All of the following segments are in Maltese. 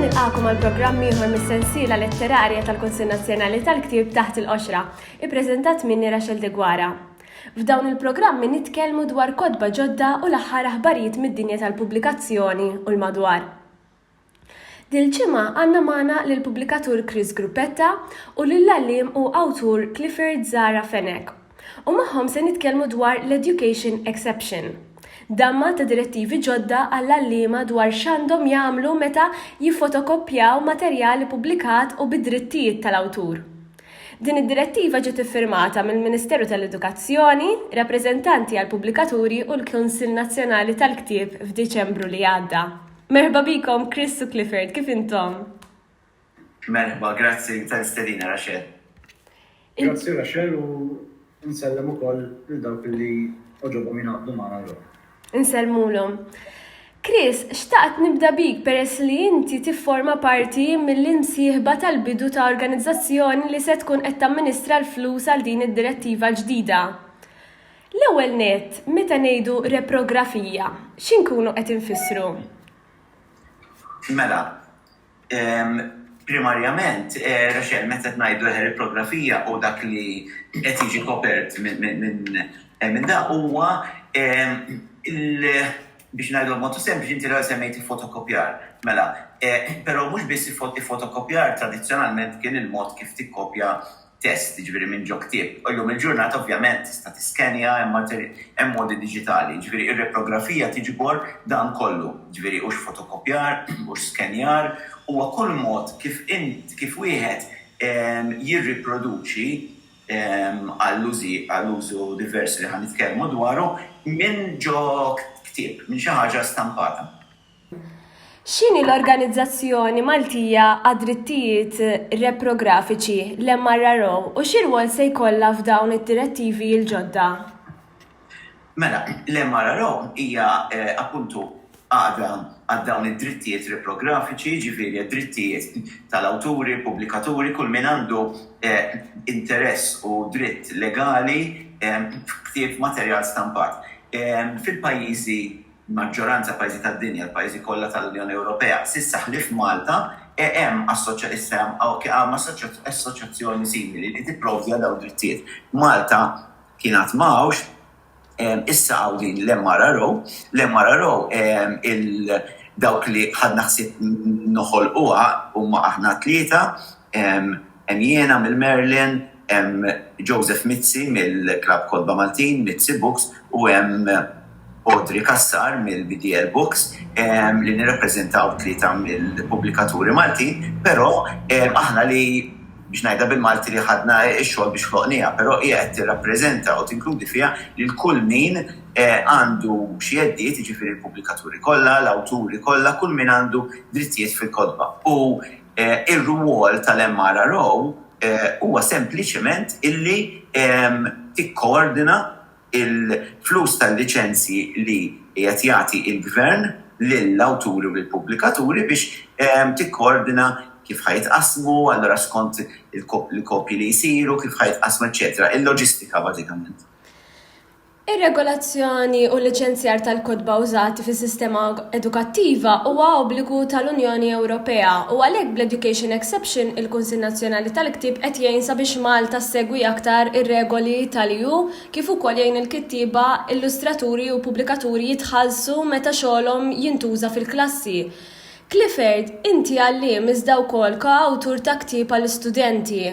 nilqakom għal programm ieħor mis-sensiela letterarja tal-Kunsill Nazzjonali tal-Ktieb taħt il-qoxra, ippreżentat minni Rachel Degwara. F'dawn il-programmi nitkellmu dwar kodba ġodda u l-aħħar aħbarijiet mid-dinja tal-pubblikazzjoni u l-madwar. Dil-ġimgħa għandna magħna lill-pubblikatur Chris Gruppetta u lill-għalliem u awtur Clifford Zahra Fenech u magħhom se nitkellmu dwar l-Education Exception, damma ta' direttivi ġodda għall-għalliema dwar x'għandhom jagħmlu meta jiffotokoppjaw materjal ippubblikat u bid-drittijiet tal-awtur. Din id-direttiva ġiet iffirmata mill-Ministeru tal-Edukazzjoni, rappreżentanti għall-pubblikaturi u l-Kunsill Nazzjonali tal-Ktieb f'Diċembru li għadda. Merħba bikom Chris u Clifford, kif intom? Merħba, grazzi tal-istedina Rachel. Grazzi Rachel u nsellem ukoll lil dawk li oġobhom jingħaqdu magħna llum. Insellmulhom. Chris, xtaqt nibda bik peress li inti tifforma parti mill-imsieħba tal-bidu ta' organizzazzjoni li se tkun qed tamministra l-flus għal din id-direttiva l-ġdida. L-ewwel nett, meta ngħidu reprografija, xi nkunu qed infissru? Mela, primarjament, Rachel, meta ngħidu reprografija u dak li qed jiġi kopert minn dan huwa biex ngħidu b'mod sempliċi inti l-ewwel semmejt il-fotokopjar. Mela, però mhux biss il-fotokopjar tradizzjonalment kien il-mod kif tikkopja test, jiġifieri minn ġo ktieb. Illum il-ġurnata ovvjament tista' tiskenja, hemm modi diġitali. Jiġifieri r-reprografija tiġbor dan kollu, jiġifieri hux fotokopjar, hux skenjar, huwa kull mod kif int kif wieħed jirriproduċi għall-użu diversi li ħa nitkellmu dwaru minn ġo ktieb, minn xi ħaġa stampata. X'inhi l-Organizzazzjoni Maltija għad-Drittijiet Reprografiċi, l-MRRO, u xi rwol se jkollha f'dawn id-direttivi l-ġodda? Mela, l-MRRO hija appuntu għaqda għal dawn id-drittijiet reprografiċi, jiġifieri għad-drittijiet tal-awturi, pubblikaturi, kull min għandu interess u dritt legali f'ktieb, materjal stampat. Fil-pajjiżi. Maġġoranza pajjiżi tad-dinja, l-pajjiżi kollha tal-Unjoni Ewropea, s'issa ħlief Malta, hemm issa hemm assoċjazzjoni simili li tipprovdi għal dawn id-drittijiet. Malta kien għad ma hawnx, issa hawn din l-MRRO. L-MRRO dawk li ħadna ħsieb noħolquha huma aħna t-tlieta, Hemm jiena mill-Merlin, hemm Joseph Mizzi mill-Klabb Kotba Maltin, Mizzi Books, u hemm Audrey Cassar mill-BDL Books li nirrappreżentaw tlieta mill-pubblikaturi Maltin, però aħna li, biex ngħidha bil-Malti, li ħadna x-xogħol biex ħloqnieha, però hija qed tirrappreżenta u tinkludi fiha lil kull min għandu xi jeddiet, jiġifieri l-pubblikaturi kollha, l-awturi kollha, kull min għandu drittijiet fil-kotba. U Ir-rwol tal-MRRO huwa sempliċement illi tikkoordina l-flus tal-liċenzji li qiegħed jagħti l-Gvern lill-awturi u lill-pubblikaturi biex tikkoordina kif ħa jitqassmu, allura skont il-kopji li jsiru, kif ħa jitqassmu, eċċetera, il-loġistika bażikament. Ir-regolazzjoni u l-liċenzjar tal-kotba użati fis-sistema edukattiva huwa obbligu tal-Unjoni Ewropea u għalhekk bl-Education Exception il-Kunsill Nazzjonali tal-Ktieb qed jgħin sabiex Malta ssegwi aktar ir-regoli tal-EU kif ukoll jgħin il-kittieba, illustraturi u pubblikaturi jitħallsu meta xogħolhom jintuża fil-klassi. Clifford, inti għalliem iżda wkoll ko-awtur ta' ktieb għal studenti.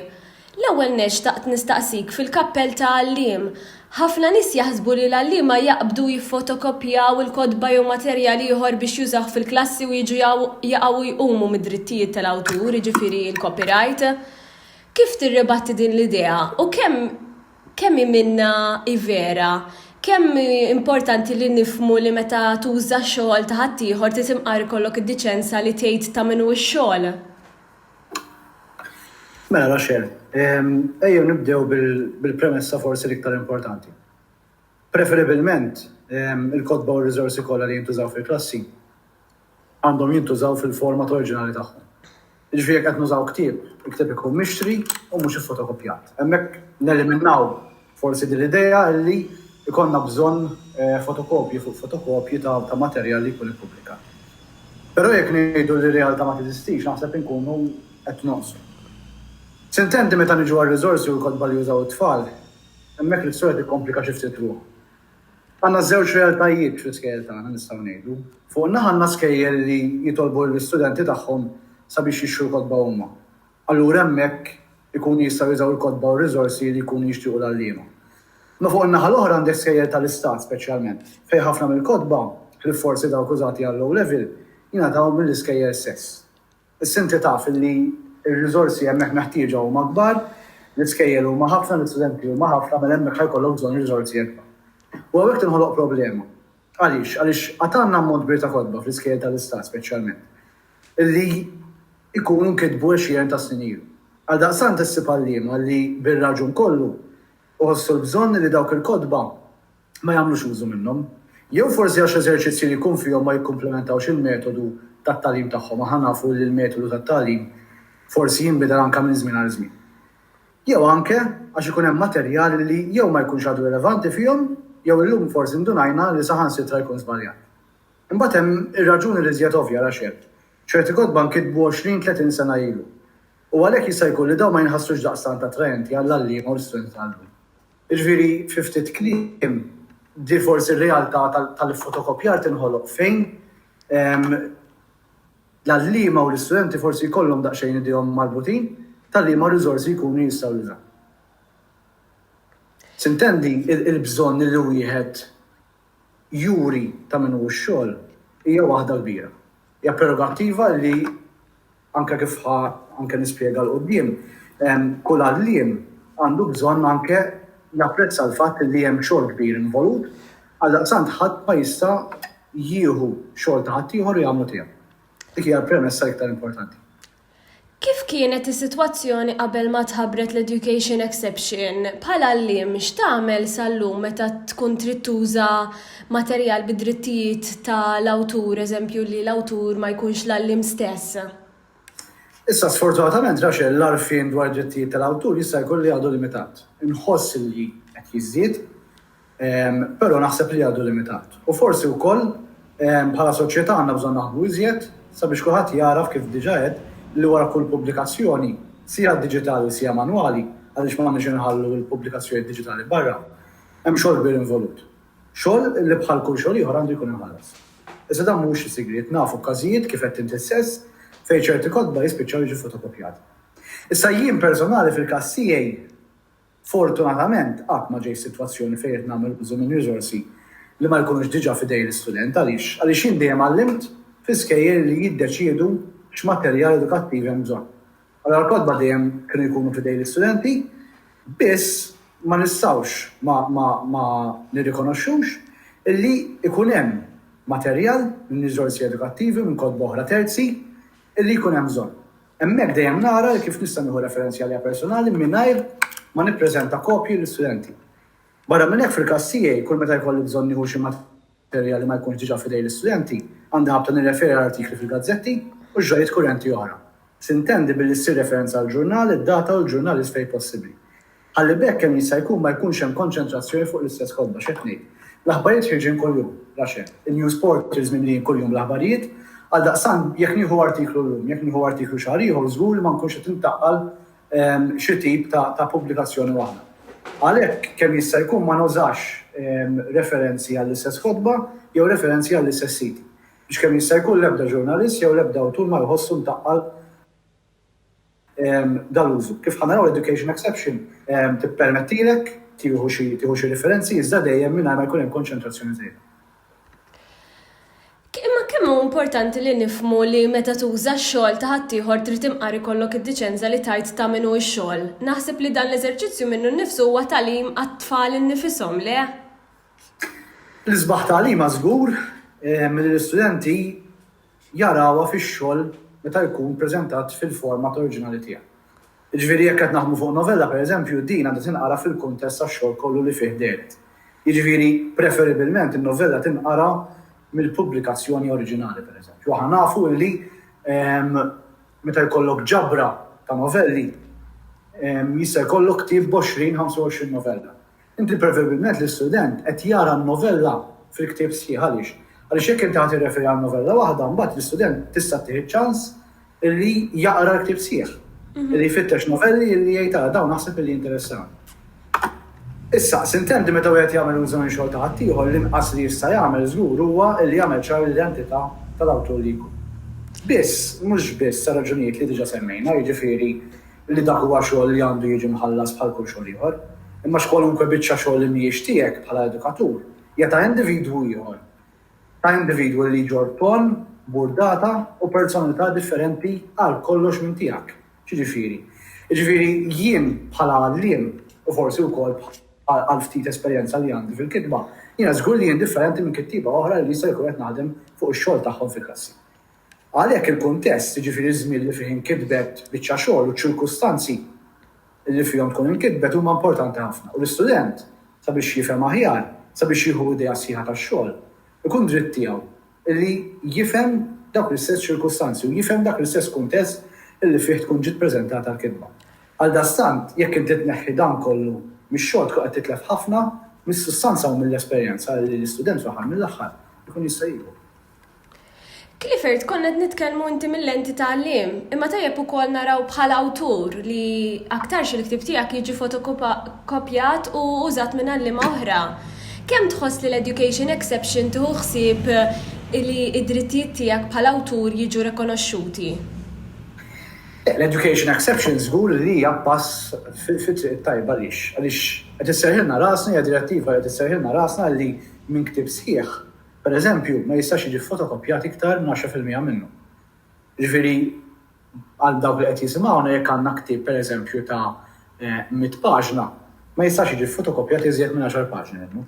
L-ewwel nett xtaqt nistaqsik fil-kappell ta' għalliem, ħafna nies jaħsbu li l-għalliema jaqbdu, jiffotokopjaw, il-kotba jew materjal ieħor biex jużawh fil-klassi u jiġu jaqgħu jqumu mid-drittijiet tal-awtur, jiġifieri l-copyright. Kif tirribatti din l-idea u kemm kemm hi minnha hi vera? Kemm hi importanti li nifhmu li meta tuża xogħol ta' ħaddieħor trid imqar ikollok id-diċenza li tgħid ta' min hu x-xogħol? Mela, Rachel, ejjew nibdew bil-premessa forsi l-iktar importanti. Preferibilment, il-kotba u r-riżorsi kollha li jintużaw fil-klassi għandhom jintużaw fil-format oriġinali tagħhom. Jiġifieri jekk qed nużaw ktieb, il-ktieb ikun mixtri u mhux iffotokoppjat. Hemmhekk neliminaw Forsi din l-idea li jkollna bżonn fotokopji fuq fotokopji ta' materjal li jkun ippubblikat. Però jekk ngħidu li r-realtà ma teżistix naħseb inkunu qed nonqsu. S'intendi meta niġu għar-riżorsi u l-kotba li jużaw it-tfal, hemmhekk l-istorja tikkomplika xi ftit ruħha. Għandna żewġ realtajiet fl-iskejjel tagħna nistgħu ngħidu. Fuq naħa għandna skejjel li jitolbu lill-istudenti tagħhom sabiex jixtru l-kotba huma. Allura hemmhekk ikunu jistgħu jużaw il-kotba u r-riżorsi li jkunu jixtiequ l-għalliema. Imma fuq in-naħa l-oħra għandek skejjel tal-istat speċjalment, fejn ħafna mill-kotba, ħlief forsi dawk użati għall-O Level, jingħataw mill-iskejjel stess. Issa inti taf li r-riżorsi hemmhekk meħtieġa huma kbar, l-iskejjel huma ħafna, l-istudenti huma ħafna, mela hemmhekk ħa jkollok bżonn riżorsi ikbar. U hawnhekk tinħoloq problema. Għaliex? Għaliex għad għandna ammont kbir ta' kotba fl-iskejjel tal-Istat speċjalment li jkunu nkitbu għexieren ta' snin ilu. Għaldaqstant issib għalliema li bir-raġun kollu iħossu l-bżonn li dawk il-kotba ma jagħmlux użu minnhom. Jew forsi għax l-eżerċizzji li jkun fihom ma jikkumplimentawx il-metodu tat-tagħlim tagħhom. Aħna nafu li l-metodu tat-tagħlim forsi jinbidel anke minn żmien għal żmien. jew anke għax ikun hemm materjal li jew ma jkunx għadu rilevanti fihom jew illum forsi ndunajna li saħansitra jkun żbaljat. Imbagħad hemm ir-raġuni l-iżjed ovvja għalax hekk. Ċerti kotba nkitbu għoxrin, tletin sena ilu. U għalhekk jista' jkun li dawn ma jinħassux daqstant attraenti għall-għalliema u l-istudenti tal-lum. Jiġifieri, fi ftit kliem, di forsi r-realtà tal-iffotokopjar tinħoloq fejn L-għalliema u l-istudenti forsi jkollhom daqsxejn idejhom marbutin ta' liema riżorsi jkunu jistgħu jużaw. Tintendi l-bżonn li wieħed juri ta' min hu x-xogħol hija waħda kbira. Hija prerogattiva li, anke kif ħa anke nispjega 'l quddiem, kull għalliem għandu bżonn anke japprezza l-fatt li hemm xogħol kbir involut, għaldaqstant ħadd ma jista' jieħu xogħol ta' ħaddieħor u jagħmlu tiegħu. Dik hija l-premessa l-iktar importanti. Kif kienet is-sitwazzjoni qabel ma tħabbret l-education exception? Bħala għalliem x'tagħmel sal-lum meta tkun trid tuża materjal bi drittijiet ta' l-awtur, eżempju li l-awtur ma jkunx l-għalliem stess? Issa sfortunatament għax l-arfin dwar drittijiet tal-awtur jista' jkun li għadu limitat. Inħoss li qed jiżdied. Però naħseb li għadu limitat. U forsi wkoll bħala soċjetà għandna bżonn naħdmu iżjed sabiex kulħadd jagħraf, kif diġà għedt, li wara kull pubblikazzjoni, sija diġitali sija manwali, għaliex m'għandniex inħallu l-pubblikazzjonijiet diġitali barra, hemm xogħol kbir involut. Xogħol li bħal kull xogħol ieħor għandu jkun imħallas. Iżda dan mhuwiex sigriet, nafu b'każijiet, kif għedt inti stess, fejn ċerti kotba jispiċċaw jiġu fotokopjati. Issa jien personali fil-każ tiegħi Fortunatament qatt ma ġejt f'sitwazzjoni fejn qed nagħmel użu minn riżorsi li ma jkunux diġà f'idejn l-istudent. Għaliex? Għaliex jien dejjem għallimt fi skejjel li jiddeċiedu x'materjal edukattiv hemm bżonn. Allura l-kotba dejjem kienu jkunu f'idejn l-istudenti, biss ma nistgħux ma nirrikonoxxux illi jkun hemm materjal minn riżorsi edukattivi u minn kotba oħra terzi illi jkun hemm bżonn. Hemmhekk dejjem nara li kif nista' nieħu referenzi għalija personali mingħajr ma nippreżenta kopji lill-istudenti. Barra minn hekk, fil-każ tiegħi, kull meta jkolli bżonn nieħu xi materjal li ma jkunx diġà f'idej l-istudenti, għandi ħabta nirreferi għal artikli fil-gazzetti u x'ġrajjiet kurrenti oħra. Tintendi billi ssir referenza għall-ġurnal, id-data u l-ġurnalist fejn possibbli. Ħalli b'hekk kemm jista' jkun ma jkunx hemm konċentrazzjoni fuq l-istess kotba, x'qed ngħid. L-aħbarijiet ħirġin kuljum, Russia. Il-news portals mimlijin kuljum bl-aħbarijiet. Għaldaqstant, jekk nieħu artiklu llum, jekk nieħu artiklu xahar ieħor, żgur li ma nkunx qed intaqqal xi tip ta' pubblikazzjoni waħda. Għalhekk, kemm jista' jkun ma nużax referenzi għall-istess kotba jew referenzi għall-istess siti. Biex kemm jista' jkun l-ebda ġurnalist jew l-ebda awtur ma jħossu mtaqqal. dal-użu. Kif ħa naraw, l-education exception tippermettilek tieħu xi tieħu xi referenzi iżda dejjem mingħajr ma jkun hemm konċentrazzjoni żejda. Imma kemm hu importanti li nifhmu li meta tuża x-xogħol ta' ħaddieħor trid imqar ikollok id-diċenza li tgħid ta' min hu x-xogħol. Naħseb li dan l-eżerċizzju minnu nnifsu huwa tagħlim għat-tfal innifishom, le? L-isbaħ tagħlima żgur li l-istudenti jarawha fix-xogħol meta jkun preżentat fil-format oriġinali tiegħu. Jiġifieri jekk qed naħdmu fuq novella, pereżempju, din għandha tinqara fil-kuntest tax-xogħol kollu li fih dehret. Jiġifieri, preferibilment, in-novella tinqara mill-pubblikazzjoni oriġinali, pereżempju. Aħna nafu li meta jkollok ġabra ta' novelli, jista' jkollok ktieb b'għoxrin, ħamsa u għoxrin novella. Inti preferibilment l-istudent qed jara n-novella fil-ktieb sħiħ għaliex? Għaliex jekk inti ħa tirreferi għal novella waħda, mbagħad l-istudent tista' ttih iċ-ċans illi jaqra l-ktieb sħiħ, illi jfittex novelli illi jgħid ara dawn naħseb illi jinteressawni. Issa, sintendi meta wieħed jagħmel użu minn xogħol ta' ħaddieħor l-inqas li jista' jagħmel żgur huwa illi jagħmel ċar l-identità tal-awtur li jkun. Biss, mhux biss għar-raġunijiet li diġa' semmejna, jiġifieri li dak huwa xogħol li għandu jiġi mħallas bħal kull xogħol ieħor, imma x'kwalunkwe biċċa xogħol li mhijiex tiegħek bħala edukatur hija ta' individwu ieħor, ta' individwu li jġorr tonn, burdata u personalità differenti għal kollox minn tiegħek. X'jiġifieri? Jiġifieri jien bħala għalliem u forsi wkoll għal ftit esperjenza li għandi fil-kitba, jiena żgur li jien differenti minn kittieba oħra li jista' jkun qed naħdem fuq ix-xogħol tagħhom fil-klassi. Għalhekk il-kuntest, jiġifieri ż-żmien li fih inkitbet biċċa xogħol u ċ-ċirkustanzi li fihom tkun inkitbet huma importanti ħafna u l-istudent sabiex jifhem aħjar, sabiex jieħu idea sħiħa tax-xogħol, ikun dritt tiegħu li jifhem dawk l-istess ċirkustanzi u jifhem dak l-istess kuntest li fih tkun ġiet preżentata l-kitba. Għaldaqstant, jekk inti tneħħi dan kollu mix-xogħol tkun qed titlef ħafna mis-sustanza u mill-esperjenza li l-istudent fl-aħħar mill-aħħar ikun jista' jieħu. Clifford, konna qed nitkellmu inti mill-lenti ta' għalliem, imma tajjeb ukoll naraw bħala awtur li aktarx il-ktieb tiegħek jiġi fotokopjat u użat minn għalliema oħra. Kemm tħoss li l-education exception tieħu ħsieb li d-drittijiet tiegħek bħala awtur jiġu rikonoxxuti? L-education exception żgur li hija pass fit-triq it-tajba għaliex? Għaliex qed isserrħilna rasna, hija direttiva li qed isserrħilna rasna li minn ktieb sħiħ, Pereżempju, ma jistax jiġi ffotokoppjat iktar minn għaxra fil-mija minnu. Jiġifieri, għal dawk li qed jisimgħuna, jekk għandna ktieb, pereżempju, ta' mitt paġna, ma jistax jiġi ffotokoppjat iżjed minn għaxar paġni minnu.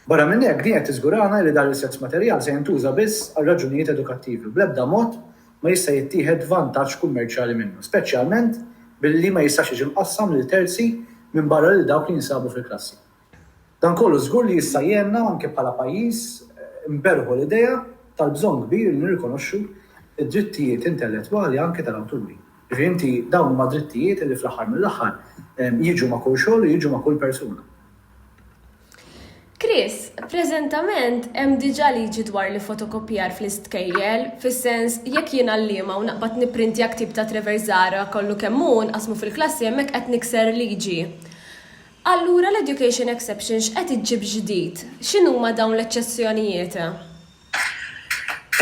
Barra minn hekk, din qed tiżgurana li dan l-istess materjal se jintuża biss għal raġunijiet edukattivi u bl-ebda mod ma jista' jittieħed vantaġġ kummerċjali minnu, speċjalment billi ma jistax jiġi mqassam lil terzi minbarra lil dawk li jinsabu fil-klassi. Dan kollu żgur li jista' jgħinna anke bħala pajjiż nberrħu l-idea tal-bżonn kbir li nirrikonoxxu d-drittijiet intellettwali anke tal-awturi. Jiġifieri inti dawn huma drittijiet li fl-aħħar mill-aħħar jiġu ma' kull xogħol u jiġu ma' kull persuna. Chris, Preżentament hemm diġà liġi dwar l-ifotokopjar fl-istkejjel, fis-sens jekk jien għalliema u naqbad nipprintja ktieb ta' Trevor Zahra kollu kemm hu nqassmu fil-klassi hemmhekk qed nikser liġi. Allura l-education exception x'qed iġġib ġdid? X'inhuma dawn l-eċċezzjonijiet?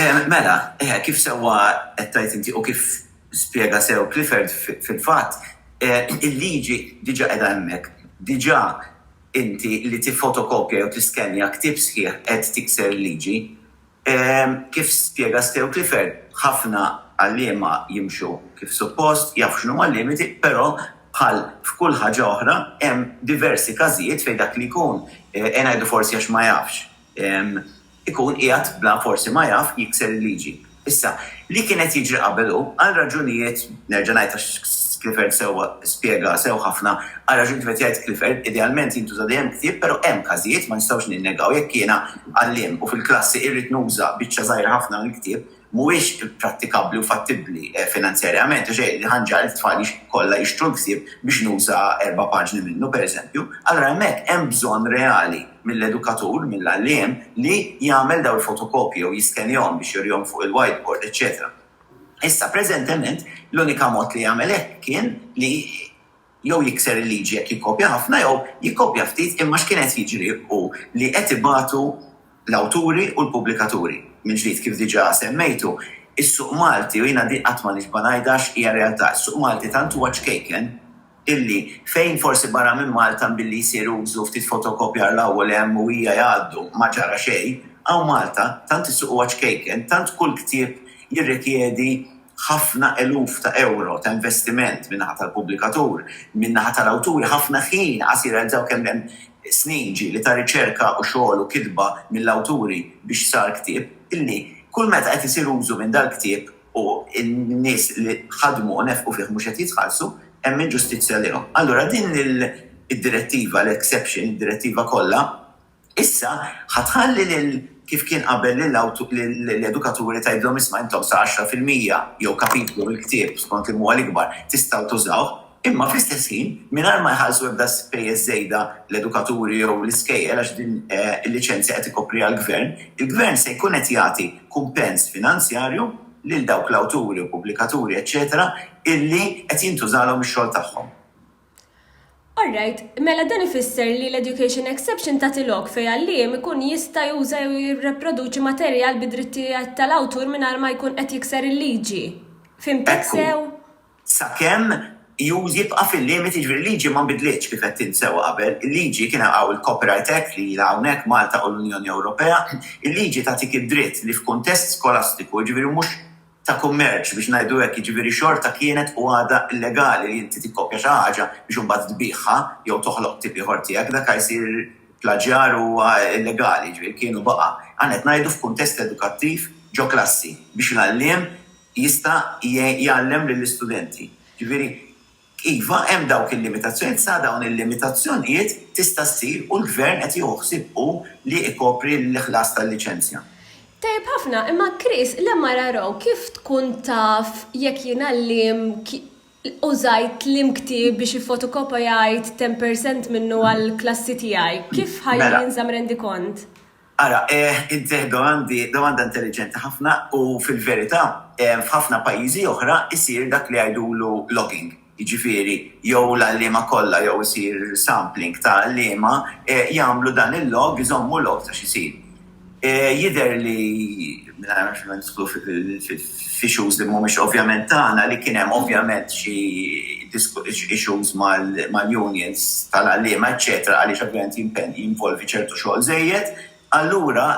Ehm, mela, eħe, kif sewwa qed tgħid inti u kif spjega sew Clifford, fil-fatt, il-liġi diġà qiegħda hemmhekk. Diġà inti li tiffotokopja jew tiskenja ktieb sħiħ qed tikser il-liġi. Kif spjega Stew Clifford, ħafna għalliema jimxu kif suppost, jafu x'inhuma l-limiti, però bħal f'kull ħaġa oħra, hemm diversi każijiet fejn dak li jkun, ngħidu forsi għax ma jafx, ikun qiegħed bla forsi ma jaf jikser il-liġi. Issa, li kien qed jiġri qabel hu, għal raġunijiet, nerġa' ngħid għax Clifford sewwa spjega sew ħafna, għal raġunijiet kif qed jgħid Clifford, idealment jintuża dejjem ktieb, però hemm każijiet, ma nistgħux ninnegaw, jekk jiena, għalliem u fil-klassi irrid nuża biċċa żgħira ħafna mill-ktieb, mhuwiex prattikabbli u fattibbli finanzjarjament għax hekk ħanġegħel it-tfal kollha jixtru l-ktieb biex nuża erba' paġni minnu, pereżempju. Allura hemmhekk hemm bżonn reali mill-edukatur, mill-għalliem, li jagħmel dawn il-fotokopji jew jiskenjahom biex jurihom fuq il-whiteboard, eċċetera. Issa, preżentement, l-unika mod li jagħmel hekk kien li. jew jikser il-liġi jekk jikkopja ħafna jew jikkopja ftit imma x'kien qed jiġri hu li qed ibatu l-awturi u l-pubblikaturi. Mill-ġdid, kif diġà semmejtu, is-suq Malti, u jiena din qatt ma nixba' ngħidha għax hija realtà, is-suq Malti tant huwa ċkejken illi fejn forsi barra minn Malta mbilli jsir użu ftit fotokopjar 'l hawn u 'l hemm u hija jgħaddu ma ġara xejn, hawn Malta tant is-suq huwa ċkejken, tant kull ktieb jirrikjedi, ħafna eluf ta' ewro ta' investiment min-naħa tal-pubblikatur, min-naħa tal-awturi ħafna ħin qasir għal dawk kemm hemm snin ġieli ta' riċerka u xogħol u kitba mill-awturi biex sar ktieb illi kull meta qed isir użu minn dal-ktieb u n-nies li ħadmu u nefqu fih mhux qed jitħallsu hemm inġustizzja lejhom. Allura din id-direttiva, l-exception, id-direttiva kollha, Issa, ħa tħalli lil, kif kien qabel, lill-edukaturi tgħidilhom isma' intom sa għaxra fil-mija, jew kapitlu mill-ktieb, skont li huwa l-ikbar, tistgħu tużawh, imma fl-istess ħin, mingħajr ma jħallsu ebda spejjeż żejda l-edukaturi jew l-iskejjel għax din il-liċenzja qed ikopriha l-gvern, il-gvern se jkun qed jagħti kumpens finanzjarju lil dawk l-awturi u pubblikaturi eċċetera illi qed jintużalhom ix-xogħol tagħhom. All right, mela dan ifisser li l-education exception tagħti lok fejn għalliem ikun jista' juża jew jirreproduċi materjal bi drittijiet tal-awtur mingħajr ma jkun qed jikser il-liġi. Fhimtek sew? Sakemm jibqa' fil-limiti, jiġifieri l-liġi ma nbidlitx kif għedt int sewwa qabel, il-liġi kien hawn il-Copyright Act li ilha hawnhekk, Malta u l-Unjoni Ewropea, il-liġi tagħtik id-dritt li f'kuntest skolastiku, jiġifieri mhux ta' kummerċ biex ngħidu hekk, jiġifieri xorta kienet u għadha illegali li inti tikkopja xi ħaġa biex imbagħad tbigħha jew toħloq ktieb ieħor tiegħek, dak ha jsir plaġjar u ha illegali, jiġifieri kien u baqa'. Aħna qed ngħidu f'kuntest edukattiv ġo klassi biex l-għalliem jista' jgħallem lill-istudenti, jiġifieri, Iva, hemm dawk il-limitazzjonijiet, sa dawn il-limitazzjonijiet tista' ssir u l-Gvern qed jieħu ħsieb hu li ikopri l-ħlas tal-liċenzja. Tajjeb ħafna, imma Chris, l-MRRO kif tkun taf jekk jiena l-liem użajt liem ktieb biex iffotokopajajt ten per cent minnu għall-klassi tiegħi? Kif ħa jinżamm rendikont? Ara, eh, int tgħid domandi, domanda intelliġenti ħafna u fil-verità, eh, f'ħafna pajjiżi oħra jsir dak li jgħidulu logging, jiġifieri jew l-għalliema kollha jew isir sampling ta' għalliema, eh, jagħmlu dan il-log, iżommu log ta' x'isir. Eh, jidher li. mingħajr ma nidħlu f'issues li mhumiex ovvjament tagħna, li kien hemm ovvjament xi issues mal-unions tal-għalliema eċċetera għaliex ovvjament jinvolvi ċertu xogħol żejjed, allura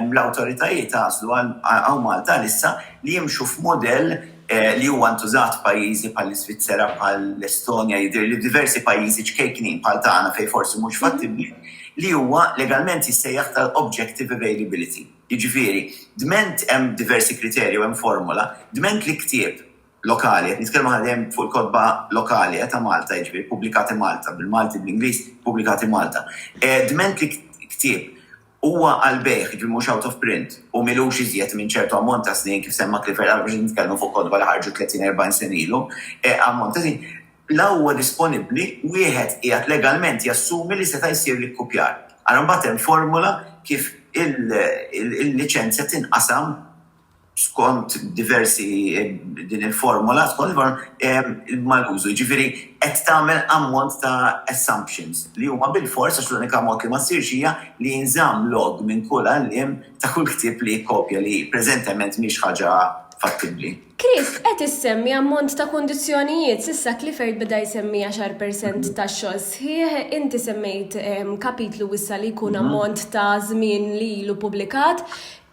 l-awtoritajiet għażlu għal Malta għalissa li jimxu f'mudell li huwa ntużat f'pajjiżi bħall-Iżvizzera, bħall-Estonja, jidhirli f'diversi pajjiżi ċkejknin bħal tagħna fejn forsi mhux fattibbli, li huwa legalment jissejjaħ tal-objective availability. Jiġifieri, dment hemm diversi kriterji u hemm formola, dment li ktieb lokali, qed nitkellmu aħna dejjem fuq il-kotba lokali ta' Malta, jiġifieri ppubblikati Malta, bil-Malti, bl-Ingliż, ppubblikati Malta. Dment li ktieb huwa għall-bejgħ, jiġifieri mhux out of print, u m'ilux iżjed minn ċertu ammont ta' snin, kif semma Clifford, aħna mhux qed nitkellmu fuq kotba li ħarġu tletin, erbgħin sena ilu, ammont ta' snin, Bla huwa disponibbli, wieħed qiegħed legalment jassumi li seta' jsir l-ikkupjar. Ara mbagħad hemm formola kif il-liċenzja tinqasam skont diversi din il-formola skont mal-użu. Jiġifieri qed tagħmel ammont ta' assumptions li huma bilfors, għax l-unika mod li ma ssirx hija li jinżamm log minn kull għalliem ta' kull ktieb li jikkopja li preżentement mhix ħaġa fattibbli. Chris, qed issemmi ammont ta' kundizzjonijiet, s'issa Clifford beda jsemmi għaxar per cent ta' xogħol sħiħ, inti semmejt kapitlu wissa' li jkun ammont ta' żmien li ilu ppubblikat.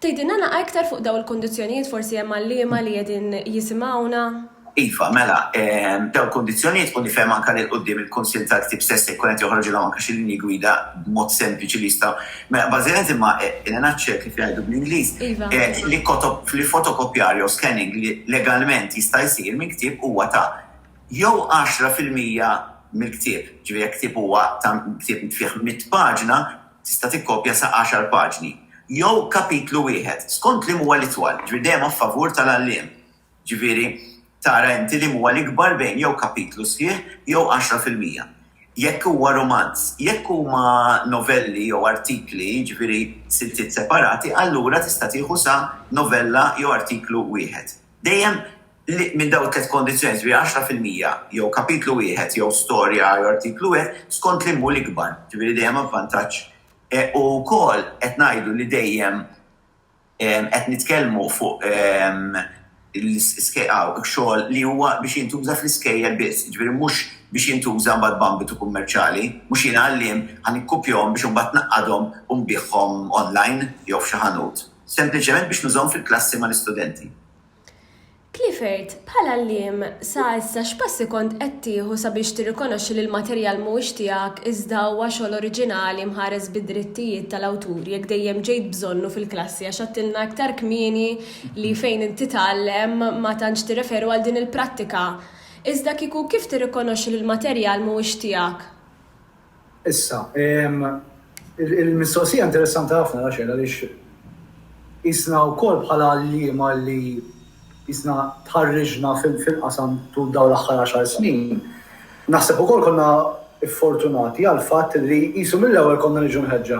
Tgħidilna naqgħa iktar fuq dawn il-kundizzjonijiet forsi hemm għalliema li qegħdin jisimgħuna? Iva, mela, dawn il-kundizzjonijiet u nifhem anke li 'l quddiem il-Kunsill tal-Ktieb stess se jkun qed joħroġilhom anke xi linji gwida b'mod sempliċi li jistgħu Mela, bażikament imma Elena Ċe, kif jgħidu bl-Ingliż, għedt li fotokopjar jew scanning li legalment jista' jsir minn ktieb huwa ta' jew għaxra fil-mija mill-ktieb, ġifieri jekk ktieb huwa ta' ktieb fih mitt paġna, tista' tikkopja sa għaxar paġni, jew kapitlu wieħed, skont liema huwa l-itwal, ġifieri dejjem a favur tal-għalliem. Jiġifieri, tara inti liema huwa l-ikbar bejn jew kapitlu sħiħ jew għaxra fil-mija. Jekk huwa rumanz, jekk huma novelli jew artikli, jiġifieri siltiet separati, allura tista' tieħu sa novella jew artiklu wieħed. Dejjem li minn dawn it-tliet kondizzjonijiet, jiġifieri għaxra fil-mija jew kapitlu wieħed jew storja jew artiklu wieħed, skont liema hu l-ikbar, jiġifieri dejjem avvantaġġ. U wkoll qed ngħidu li dejjem, Qed nitkellmu fuq xogħol li huwa biex jintuża fl-iskejjel biss, jiġifieri mhux biex jintuża mbagħad b'ambitu kummerċjali. Mhux jiena għalliem ħa nikkupjahom biex imbagħad naqqadhom u nbigħhom online jew f'xi ħanut. Sempliċement biex nużahom fil-klassi mal-istudenti. Clifford, bħala għalliem, sa issa x'passi kont qed tieħu sabiex tirrikonoxxi li l-materjal mhuwiex tiegħek iżda huwa xogħol oriġinali mħares bid-drittijiet tal-awtur jekk dejjem ġejt bżonnu fil-klassi għax għedtilna iktar kmieni li fejn inti tgħallem ma tantx tirreferu għal din il-prattika iżda kieku kif tirrikonoxxi li l-materjal mhuwiex tiegħek? Issa, il-mistoqsija interessanti ħafna, Rachel, għaliex qisna wkoll bħala għalliema li qisna tħarriġna fil-qasam tul dawn l-aħħar għaxar snin, naħseb ukoll konna ffortunati għall-fatt li qisu mill-ewwel konna niġu mħeġġa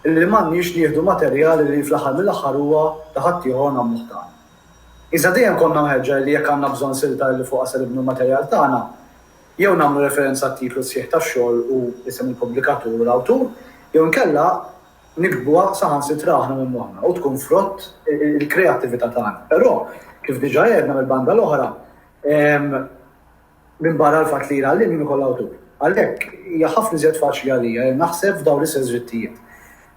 li m'għandniex nieħdu materjal li fl-aħħar mill-aħħar huwa ta' ħaddieħor u nagħmluh tagħna. Iżda dejjem konna mħeġġa li jekk għandna bżonn silta li fuqha se nibnu l-materjal tagħna, jew nagħmlu referenza għat-titlu sħiħ tax-xogħol u isem il-pubblikatur u l-awtur, jew inkella niktbuha saħansitra aħna minn moħħna u tkun frott il-kreattività tagħna. Però, kif diġà għedna mill-banda l-oħra, minbarra l-fatt li l-għalliem jien ukoll awtur. Għalhekk hija ħafna iżjed faċli għalija li naħseb f'dawn l-istess drittijiet.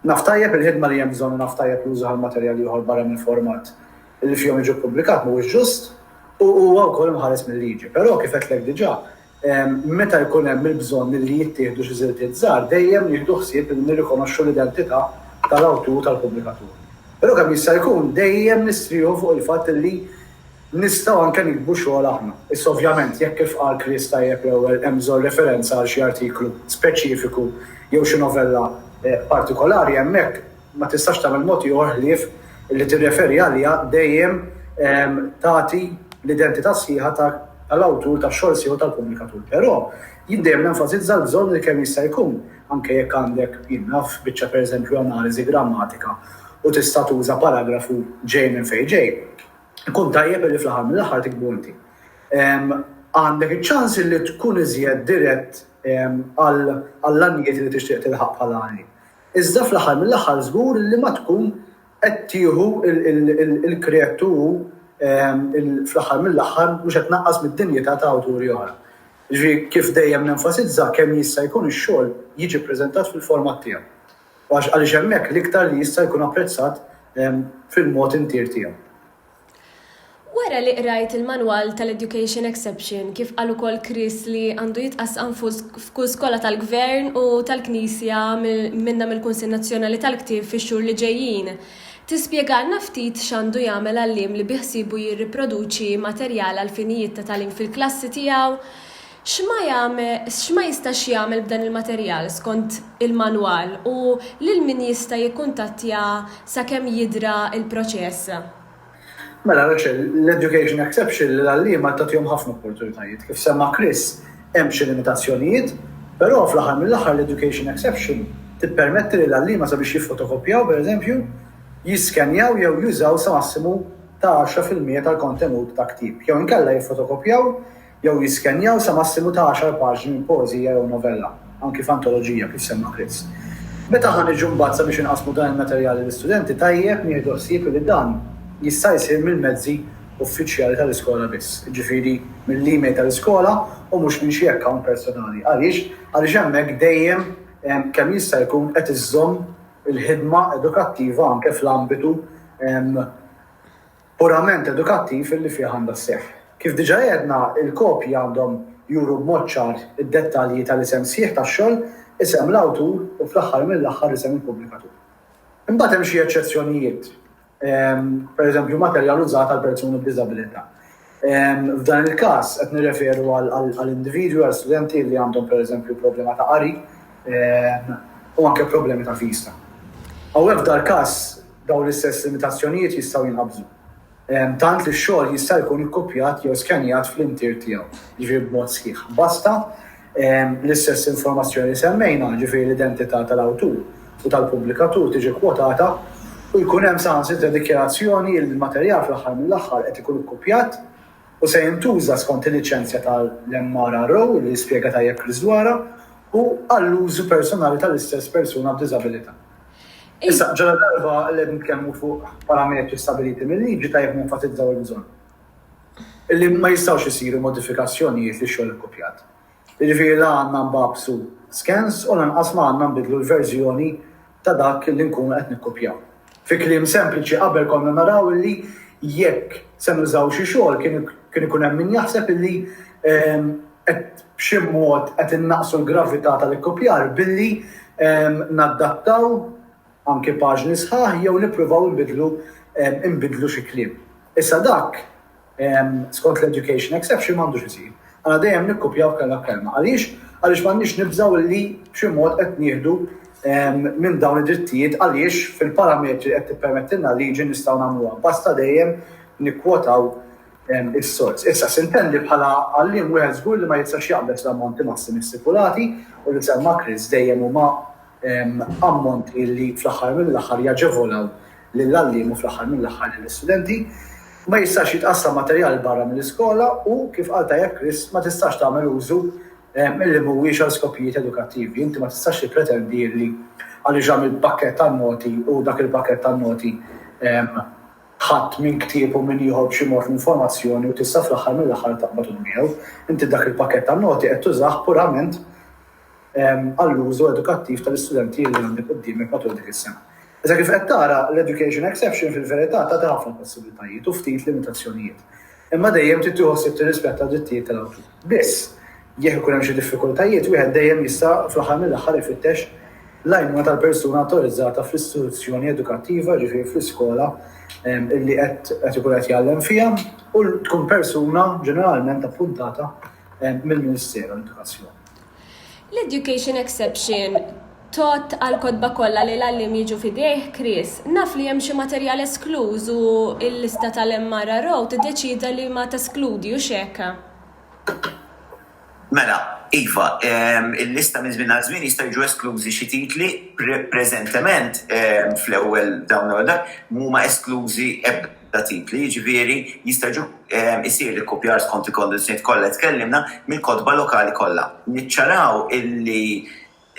Naf tajjeb il-ħidma li hemm bżonn u naf tajjeb l-użu għal materjal ieħor barra mill-format. li fihom jiġu ppubblikat mhuwiex ġust u huwa wkoll imħares mil-liġi. Però, kif għedtlek diġà, meta jkun hemm il-bżonn li jittieħdu xi żiltiet żgħar, dejjem nieħdu ħsieb li nirrikonoxxu l-identità tal-awtur u tal-pubblikatur. Però kemm jista' jkun dejjem nistrieħu fuq il-fatt li nistgħu anke niktbu xogħol aħna. Issa ovvjament, jekk kif qal Chris tajjeb l-ewwel hemm bżonn referenza għal xi artiklu speċifiku jew xi novella partikolari hemmhekk, ma tistax tagħmel mod ieħor ħlief li tirreferi għaliha dejjem tagħti l-identità sħiħa ta' l-awtur ta' xogħol sieħu tal-pubblikatur. Però, jien dejjem nenfasizza l-bżonn li kemm jista' jkun, anke jekk għandek, jien naf, biċċa per eżempju analiżi grammatika u tista' tuża paragrafu ġej minn fejn ġej, ikun tajjeb li fl-aħħar mill-aħħar tiktbu inti. Għandek iċ-ċans li tkun iżjed dirett għall-għanijiet li tixtieq tilħaq bħala għan. Iżda fl-aħħar mill-aħħar żgur illi ma tkun qed tieħu l-kreattu u fl-aħħar mill-aħħar mhux qed tnaqqas mid-dinjità ta' awturi oħra. Jiġifieri kif dejjem nenfasizza kemm jista' jkun ix-xogħol jiġi ppreżentat fil-format tiegħu. Għax għaliex hemmhekk l-iktar li jista' jkun apprezzat fil-mod intier tiegħu. Wara li qrajt il-manwal tal-Education Exception, kif qal ukoll Chris li għandu jitqassam f'kull skola tal-Gvern u tal-Knisja minnha mill-Kunsill Nazzjonali tal-Ktieb fix-xhur li ġejjin, tispjegalna ftit x'għandu jagħmel għalliem li biħsiebu jirriproduċi materjal għall-finijiet ta' tagħlim fil-klassi tiegħu? X'ma jagħme, x'ma jistax jagħmel b'dan il-materjal skont il-manwal u lil min jista' jikkuntattja sakemm jidra l-proċess. Mela Rochelle, l-education exception lill-għalliema tagħtihom ħafna opportunitajiet. Kif semma Chris, hemm xi limitazzjonijiet, però fl-aħħar mill-aħħar l-education exception tippermetti lill-għalliema sabiex jiffotokopjaw, per eżempju, jiskenjaw jew jużaw sa massimu ta' għaxra fil-mija tal-kontenut ta' ktieb jew inkella jiffotokopjaw jew jiskennjaw sa massimu ta' għaxar paġni minn poeżija jew novella, anki f'antoloġija, kif semma Chris. Meta ħa niġu mbagħad sabiex inqassmu dan il-materjal lill-istudenti, tajjeb nieħdu ħsieb li dan jista' jsir mill-mezzi uffiċjali tal-iskola biss, jiġifieri mill-email tal-iskola u mhux minn xi account personali. Għaliex? Għaliex hemmhekk dejjem kemm jista' jkun qed iżżomm il-ħidma edukattiva anke fl-ambitu purament edukattiv li fih għandha sseħħ. Kif diġà għedna, il-kopji għandhom juru b'mod ċar id-dettalji tal-isem sħiħ tax-xogħol, isem l-awtur u fl-aħħar mill-aħħar isem il-pubblikatur. Imbagħad hemm xi eċċezzjonijiet, pereżempju materjal użat għal persuni b'diżabilità. F'dan il-każ qed nirreferu għal individwi, għal studenti li għandhom pereżempju problema ta' qari u anke problemi ta' vista. Hawnhekk f'dal-każ, Dawn l-istess limitazzjonijiet jistgħu jinħabżu, tant li x-xogħol jista' jkun ikkupjat jew skennjat fl-intier tiegħu, jiġifieri b'mod sħiħ. Basta l-istess informazzjoni li semmejna, jiġifieri l-identità tal-awtur u tal-pubblikatur tiġi kkwotata u jkun hemm saħansitra dikjarazzjoni li l-materjal fl-aħħar mill-aħħar qed ikun ikkupjat u se jintuża skont il-liċenzja tal-MRRO, li spjega tajjeb Chris dwarha, u għall-użu personali tal-istess persuna b'diżabilità. Issa, ġala darba li qed nitkellmu fuq parametri stabiliti mill-liġi tajjeb nenfasizzaw il-bżonn. Illi ma jistgħux isiru modifikazzjonijiet li xogħol ikkopjat. Jiġifieri la għandna nbabsu scans u lanqas ma għandna nbidlu l-verżjoni ta' dak li nkunu qed nikkopjaw. Fi kliem sempliċi qabel konna naraw illi jekk se nużaw xi xogħol kien ikun hemm min jaħseb illi ehm, qed b'xi mod qed innaqqsu l-gravità tal-ikkupjar billi naddattaw anke paġni sħaħ jew nippruvaw inbiddlu inbiddlu xi kliem. Issa dak skont l-education exception m'għandux isir. Għandna dejjem nikkupjaw kelma b'kelma. Għaliex? Għaliex m'għandniex nibżgħu illi b'xi mod qed nieħdu minn dawn id-drittijiet għaliex fil-parametri qed tippermettilna l-liġi nistgħu nagħmluha. Basta dejjem nikkwotaw is-sors. Issa, sintendi bħala għalliem wieħed żgur li ma jistax jaqbeż l-ammonti massimi stipulati u li semma Chris dejjem huma ammonti li fl-aħħar mill-aħħar jaġevolaw lill-għalliem u fl-aħħar mill-aħħar lill-istudenti. Ma jistax jitqassam materjal barra mill-iskola u, kif qal tajjeb Chris, ma tistax tagħmel użu li mhuwiex għal skopijiet edukattivi. Inti ma tistax tippretendi li għaliex għamilt pakkett tan-noti u dak il-pakkett tan-noti ħadd min ktieb u min jieħu b'xi mod l-informazzjoni u tista' fl-aħħar mill-aħħar taqbad u tbiegħu. Inti dak il-pakkett ta' noti qed tużah purament għall-użu edukattiv tal-istudenti li għandek quddiemek matul dik is-sena. Iżda kif qed tara, l-education exception fil-verità tagħti ħafna possibbiltajiet u ftit limitazzjonijiet. Imma dejjem trid tieħu ħsieb tirrispetta d-drittijiet tal-awtur. Biss, jekk ikun hemm xi diffikultajiet, wieħed dejjem jista' fl-aħħar mill-aħħar ifittex l-għajnuna tal-persuna awtorizzata fl-istituzzjoni edukattiva, jiġifieri fl-iskola li qed ikun qed jgħallem fiha, u tkun persuna ġeneralment appuntata mill-Ministeru għall-Edukazzjoni. L-education exception tgħodd għall-kotba kollha li l-għalliem jiġu f'idejh, Chris, naf li hemm xi materjal eskluż u l-lista tal-MRRO tiddeċieda li ma teskludi, hux hekk? Mela, iva, il-lista minn żmien għal żmien jistgħu jiġu esklużi xi titli, preżentement fl-ewwel dawn l-ewwel darb, m'huma esklużi ebda. ta' titli, jiġifieri jista' jiġu jsir l-ikkupjar skont il-kondizzjonijiet kollha li tkellimna mill-kotba lokali kollha. Niċċaraw illi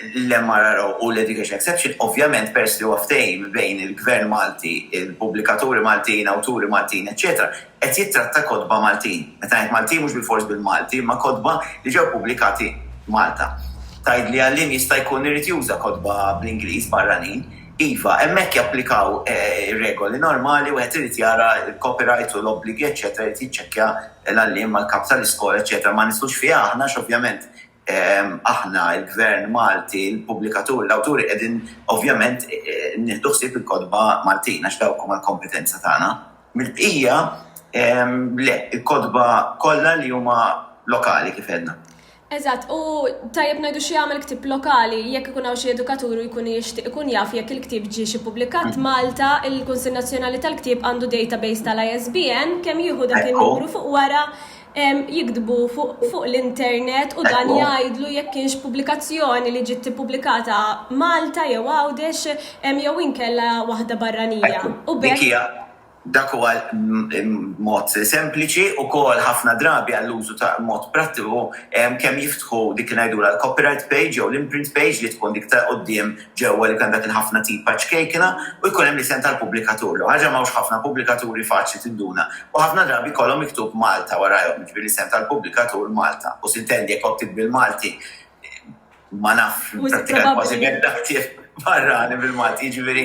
l-MRRO u l-Education Exception ovvjament peress li huwa ftehim bejn il-Gvern Malti, il-pubblikaturi Maltin, awturi Maltin, eċċetera, qed jittratta kotba Maltin. Meta ngħid Maltin mhux bilfors bil-Malti imma kotba li ġew pubblikati Malta. Tgħidli għalliem jista' jkun irid juża kotba bl-Ingliż barranin, Iva, hemmhekk japplikaw ir-regoli normali, wieħed irid jara l-copyright u l-obbligi eċċetera, irid jiċċekkja l-għalliem mal-kap tal-iskola eċċetera. Ma nidħlux fiha aħna għax ovvjament aħna, il-Gvern Malti, il-pubblikaturi, l-awturi qegħdin ovvjament nieħdu ħsieb il-kotba Maltin għax dawk huma l-kompetenza tagħna. Mill-bqija le, il-kotba kollha li huma lokali kif għedna. Eżatt, u tajjeb ngħidu x'jagħmel ktieb lokali jekk ikun hawn xi edukatur u jkun jixtieq ikun jaf jekk il-ktieb ġiex ippubblikat Malta, il-Kunsill Nazzjonali tal-Ktieb għandu database tal-ISBN, kemm jieħu dak in-numru fuq wara jiktbu fuq l-internet u dan jgħidlu jekk kienx pubblikazzjoni li ġiet ippubblikata Malta jew Għawdex jew inkella waħda barranija u b'hekk. Dak huwa mod sempliċi wkoll ħafna drabi għall-użu ta' mod prattiku kemm jiftħu dik li ngħidulha l-copyright page jew l-imprint page li tkun dik ta' quddiem ġewwa li jkun hemm dak il-ħafna tipa ċkejkna u jkun hemm l-isem tal-pubblikatur. L-ewwel ħaġa m'hawnx ħafna pubblikaturi faċli tinduna u ħafna drabi jkollhom miktub Malta warajhom, jiġifieri l-isem tal-pubblikatur Malta u s'intendi jekk għodt tiktbi l-Malti ma naf, prattikament kważi l-ebda ktieb barrani bil-Malti, jiġifieri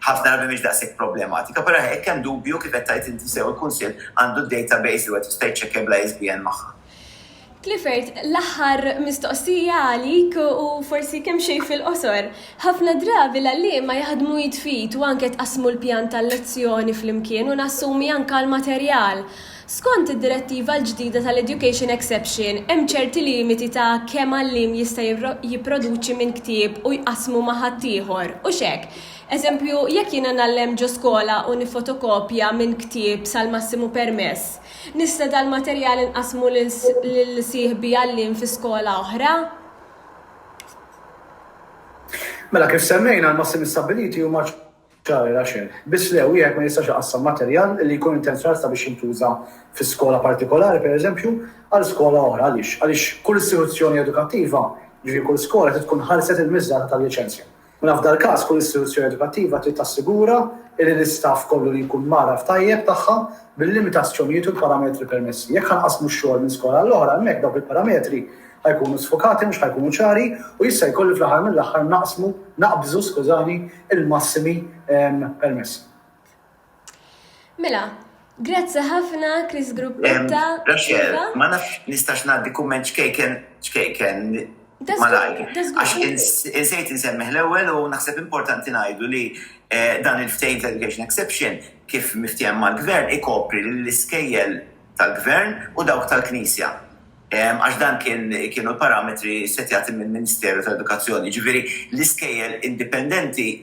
ħafna drabi mhix daqshekk problematika. Però jekk hemm dubju, kif qed tgħid inti sew, il-Kunsill għandu d-database li wieħed jista' jiċċekkja bla ISBN magħha. Clifford, l-aħħar mistoqsija għalik u forsi kemxejn fil-qosor. Ħafna drabi l-għalliema jaħdmu id f'id u anke tqassmu l-pjan tal-lezzjoni flimkien u nassumi anke l-materjal. Skont id-Direttiva l-ġdida tal-Education Exception, hemm ċerti limiti ta' kemm għalliem jista' jipproduċi minn ktieb u jqassmu ma' ħaddieħor, u x'hekk. Eżempju, jekk jiena ngħallem ġo skola u niffotokopja minn ktieb sal-massimu permess, nista' dal-materjal inqassmu lil sieħbi għalliem fi skola oħra? Mela, kif semmejna, l-massimi stabbiliti huma. Ċari, Rachel. Biss le, wieħed ma jistax iqassam materjal li jkun intenzjonat sabiex jintuża fi skola partikolari, per eżempju, għal skola oħra. Għaliex? Għaliex kull istituzzjoni edukattiva, jiġifieri kull skola, trid tkun ħarset il-miżata tal-liċenzja. Mela f'dal-każ, kull istituzzjoni edukattiva trid tassigura li l-istaff kollu li jkun mgħarraf tajjeb tagħha bil-limitazzjonijiet u l-parametri permessi. Jekk ħa nqassmu x-xogħol minn skola għall-oħra, hemmhekk dawk il-parametri ħa jkunu sfokati, mhux ħa jkunu ċari u jista' jkun li fl-aħħar mill-aħħar naqsmu, naqbżu, skużani, il-massimi permessi. Mela, grazzi ħafna Chris Gruppetta. Rachel, ma nafx nistax ngħaddi kumment ċkejken ċkejken malajr. Għax insejt insemmiħ l-ewwel u naħseb importanti ngħidu li eh, dan il-ftejn tal-education exception kif miftiem mal-gvern ikopri l-iskejjel tal-gvern u dawk tal-knisja. għax dan kien kienu l-parametri setjati mill-Ministeru tal-Edukazzjoni. Jiġifieri l-iskejjel indipendenti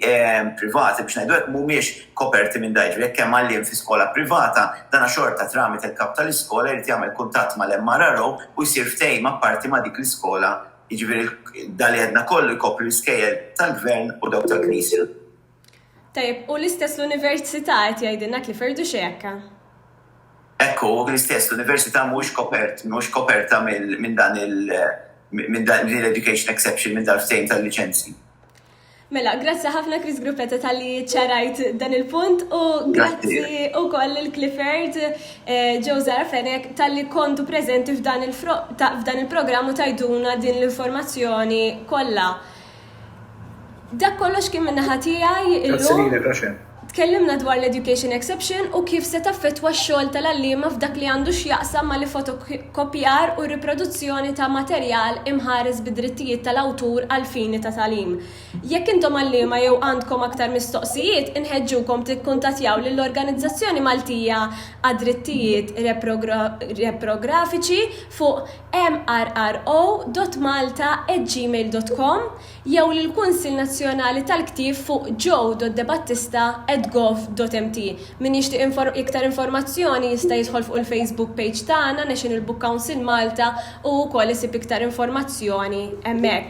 privati biex ngħidu hekk mhumiex koperti minn dan. Jiġifieri jekk hemm għalliem fi skola privata, dan xorta tramite l-kap tal-iskola jrid jagħmel kuntatt mal-MRRO u jsir ftehim apparti ma' dik l-iskola. Jiġifieri dan li għedna kollu jkopri l-iskejjel tal-Gvern u dawk tal-Knisja. Tajjeb, u l-istess l-Università qed jgħidilna qed jferdu xejka. Hekk hu, l-istess l-Università mhuwiex kopert, mhux koperta minn dan il minn din l-education exception minn dal-ftehim tal-liċenzji. Mela, grazzi ħafna Chris Gruppetta tal-li ċarajt dan il-punt u grazzi u koll il-Clifford eh, Joe Zarafenek tal-li kontu prezenti f'dan il-programm u tajduna din l-informazzjoni kollha. Dak kollox kien min-naħa tiegħi illum. Grazzi lilek, Rachel. Tkellimna dwar l-education exception u kif se taffettwa x-xogħol tal-għalliema f'dak li għandu x'jaqsam mal-ifotokkopjar u r-riproduzzjoni ta' materjal imħares bid-drittijiet tal-awtur għall-fini ta' tagħlim. Jekk intom għalliema jew għandkom aktar mistoqsijiet, inħeġġukom tikkuntattjaw lill-Organizzazzjoni Maltija għad-Drittijiet Reprografiċi fuq mrro.malta@gmail.com jew lill-Kunsill Nazzjonali tal-Ktieb fuq joe.debattista@gov.mt. Min jixtieq iktar informazzjoni jista' jidħol fuq il-Facebook page tagħna National Book Council Malta u wkoll isib iktar informazzjoni hemmhekk.